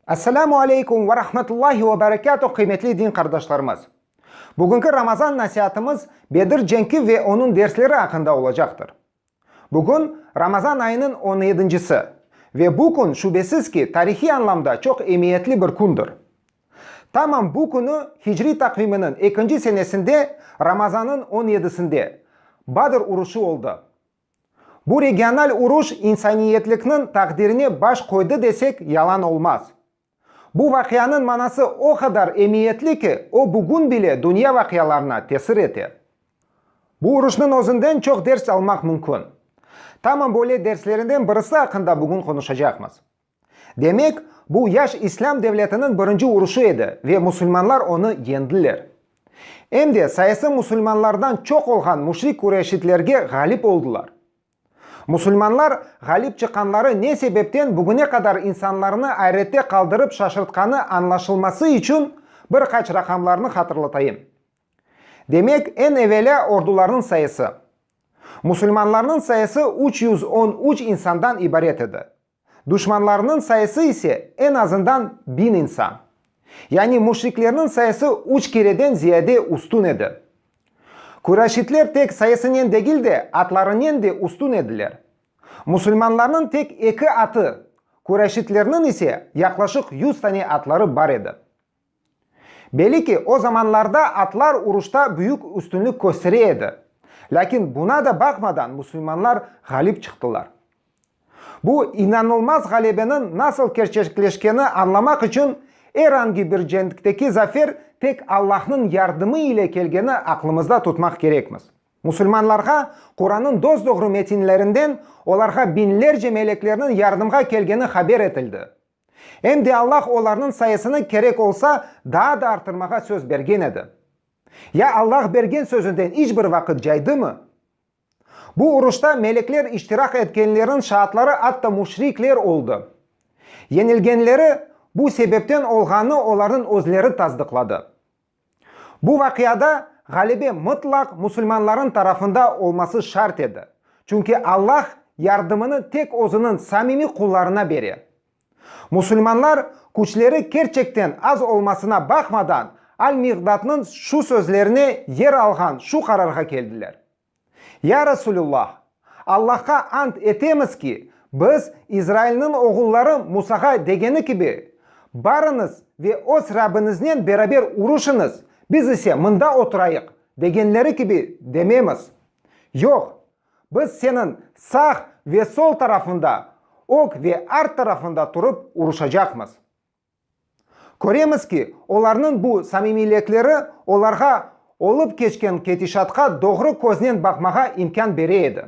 Esselamu aleykum ve rahmetullahi ve berekâtuh qıymetli din qardaşlarımız! Bugünki Ramazan nasiatımız Bedir cenki ve onıñ dersleri aqqında olacaqtır. Bugün, Ramazan ayınıñ on yedincisi. Ve bu kün, şübesiz ki, tarihiy añlamda çoq emiyetli bir kündir. Tamam bu künü, hicriy taqviminiñ ekinci senesinde, Ramazanıñ on yedisinde, Badr uruşı oldı. Bu regional uruş insaniyetlikniñ taqdirine baş qoydı desek, yalan olmaz. Bu vaqianıñ manası o qadar emiyetli ki, o bugün bile dünya vaqialarına tesir ete. Bu uruşnıñ özünden çoq ders almaq mümkün. Tamam böyle derslerinden birisi aqqında bugün qonuşacaqmız. Demek, bu yaş İslâm devletiniñ birinci uruşu edi ve musulmanlar onı yeñdiler. Em de sayısı musulmanlardan çoq olğan müşrik Qureyşitlerge ğalip oldılar. Musulmanlar ğalip çıqqanları ne sebepten bugüne qadar insanlarnı ayrette qaldırıp şaşırtqanı añlaşılması içün bir qaç raqamlarnı hatırlatayım. Demek, eñ evelâ ordularnıñ sayısı. Musulmanlarnıñ sayısı üç yüz on üç insandan ibaret edi. Duşmanlarınıñ sayısı ise en azından biñ insan. Yani müşriklerniñ sayısı üç kereden ziyade üstün edi. Küreşitler tek sayısınen degil de, atlarınen de üstün ediler. Musulmanlarnıñ tek eki atı, küreşitlerniñ ise yaqlaşıq yüz tane atları bar edi. Belli ki, o zamanlarda atlar uruşta büyük üstünlik köstere edi. Lâkin buna da baqmadan musulmanlar ğalip çıqtılar. Bu inanılmaz ğalebeniñ nasıl kerçekleşkeni añlamaq içün er angi bir cenkteki zafer tek Allahnıñ yardımı ile kelgeni aqlımızda tutmaq kerekmiz. Musulmanlarğa Quran'nıñ dosdoğru metinlerinden olarğa biñlerce meleklerniñ yardımğa kelgeni haber etildi. Em de Allah olarnıñ sayısını kerek olsa daa da arttırmağa söz bergen edi. Ya Allah bergen sözünden iç bir vaqıt caydımı? Bu uruşta melekler iştiraq etkenleriñ şaatları atta müşrikler oldı. Yenilgenleri bu sebepten olğanı olarnıñ özleri tasdıqladı. Bu vaqiada ğalebe mıtlaq musulmanların tarafında olması şart edi, çünki Allah yardımını tek Özüniñ samimiy qullarına bere. Musulmanlar, küçleri kerçekten az olmasına baqmadan, Al-Miqdadnıñ şu sözlerine yer alğan şu qararğa keldiler. Ya Rasulullah! Allahqa ant etemiz ki, biz, İzrailniñ oğulları Musağa degeni kibi, Barıñız ve öz Rabbiñiznen beraber uruşıñız, biz ise mında oturayıq, degenleri kibi dememiz. Yoq, biz seniñ sağ ve sol tarafında, ög ve art tarafında turıp uruşacaqmız. Köremiz ki, olarnıñ bu samimiylekleri olarğa olıp keçken ketişatqa doğru köznen baqmağa imkân bere edi.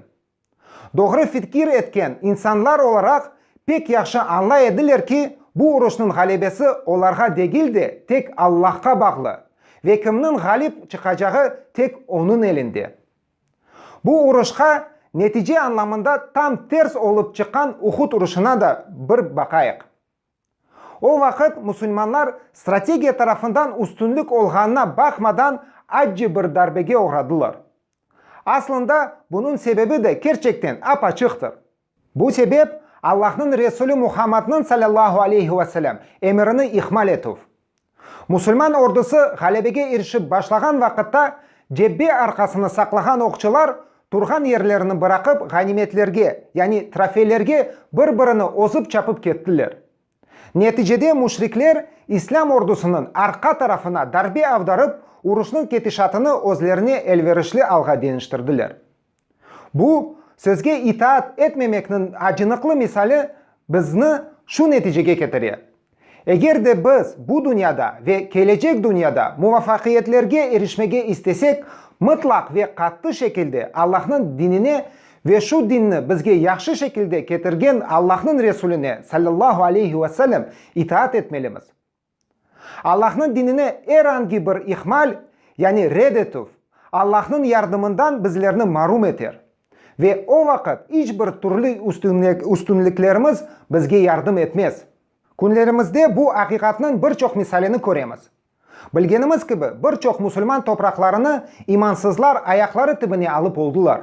Doğru fikir etken insanlar olaraq pek yahşı añlay ediler ki, bu uruşnıñ ğalebesi olarğa degil de, tek Allahqa bağlı ve kimniñ ğalip çıqacağı tek Onıñ elinde. Bu uruşqa netice añlamında tam ters olıp çıqqan Uhud uruşına da bir baqayıq. O vaqıt musulmanlar strategiya tarafından üstünlik olğanına baqmadan acci bir darbege oğradılar. Aslında bunıñ sebebi de kerçekten ap-açıqtır. Bu sebep, Allahnıñ Resulü Muhammadnıñ, salâllahu aleyhi ve selâm, emirini ihmal etüv. Musulman ordusı ğalebege irişip başlağan vaqıtta cebbe arqasını saqlağan oqçılar turğan yerlerini bıraqıp ğanimetlerge, yani trofeylerge bir-birini ozıp çapıp kettiler. Neticede müşrikler İslâm ordusınıñ arqa tarafına darbe avdarıp uruşnıñ ketişatını özlerine elverişli alğa deñiştirdiler. Bu, sözge itaat etmemekniñ acınıqlı misali bizni şu neticege ketire, eger de biz bu dünyada ve kelecek dünyada muvafaqiyetlerge irişmege istesek, mıtlaq ve qattı şekilde Allahnıñ dinine ve şu dinni bizge yahşı şekilde ketirgen Allahnıñ Resuline, sallallahu aleyhi ve sellem, itaat etmelimiz. Allahnıñ dinine er angi bir ihmal, yani red etüv, Allahnıñ yardımından bizlerni marum eter. Ve o vaqıt iç bir türlü üstünliklerimiz bizge yardım etmez. Künlerimizde bu aqiqatnıñ bir çoq misalini köremiz. Bilgenimiz kibi, bir çoq musulman topraqlarını imansızlar ayaqları tibine alıp oldılar.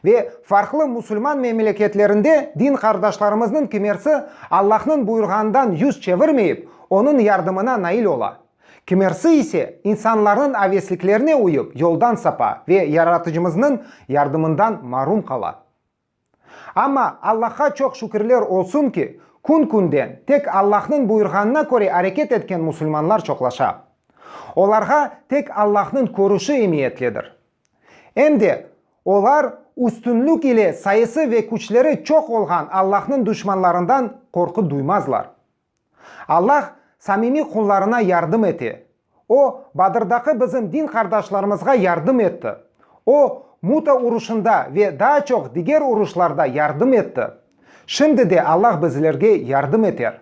Ve farqlı musulman memleketlerinde din qardaşlarımıznıñ kimersi Allahnıñ buyurğanından yüz çevirmeyip, Onıñ yardımına nail ola. Kimersi ise, insanlarnıñ avesliklerine uyıp, yoldan sapa ve Yaratıcımıznıñ yardımından marum qala. Amma, Allahqa çoq şükürler olsun ki, kün-künden tek Allahnıñ buyurğanına köre areket etken musulmanlar çoqlaşa. Olarğa tek Allahnıñ körüşi emiyetlidir. Em de, olar üstünlik ile sayısı ve küçleri çoq olğan Allahnıñ duşmanlarından qorqu duymazlar. Allah samimiy qullarına yardım ete. O, Badırdaki bizim din qardaşlarımızğa yardım etti. O, Muta uruşında ve daa çoq diger uruşlarda yardım etti. Şimdi de Allah bizlerge yardım eter.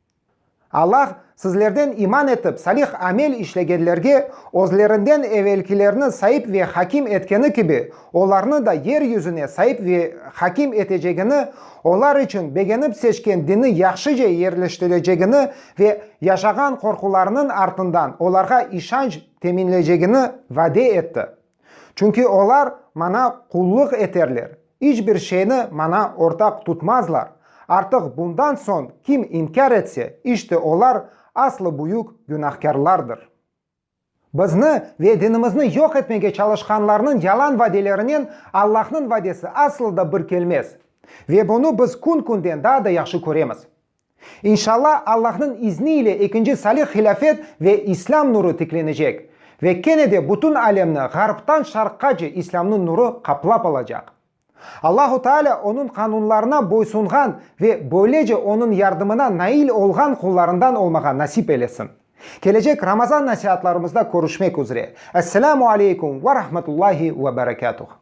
Allah sizlerden iman etip, salih amel işlegenlerge, özlerinden evelkilerni saip ve hakim etkeni kibi, olarnı da yer yüzüne saip ve hakim etecegini, olar içün begenip seçken dini yahşıca yerleştirecegini ve yaşağan qorqularınıñ artından olarğa işanç teminlecegini vade etti. Çünki olar maña qullıq eterler, iç bir şeyni maña ortaq tutmazlar, artıq bundan soñ kim inkâr etse, işte olar aslı büyük günahkârlardır. Bizni ve dinimizni yoq etmege çalışqanlarnıñ yalan vadelerinen Allahnıñ vadesi aslı da bir kelmez. Ve bunı biz kün-künden daa da yahşı köremiz. İnşalla, Allahnıñ izni ile ekinci salih hilâfet ve İslâm nuru tiklenecek. Ve kene de bütün alemni Ğarptan Şarqqace İslâmnıñ nuru qaplap alacaq. Allahu Taalâ Onıñ qanunlarına boysunğan ve böylece Onıñ yardımına nail olğan qullarından olmağa nasip eylesin. Kelecek Ramazan nasiatlarımızda körüşmek üzre. Esselamu aleykum ve rahmetullahi ve berekatuh.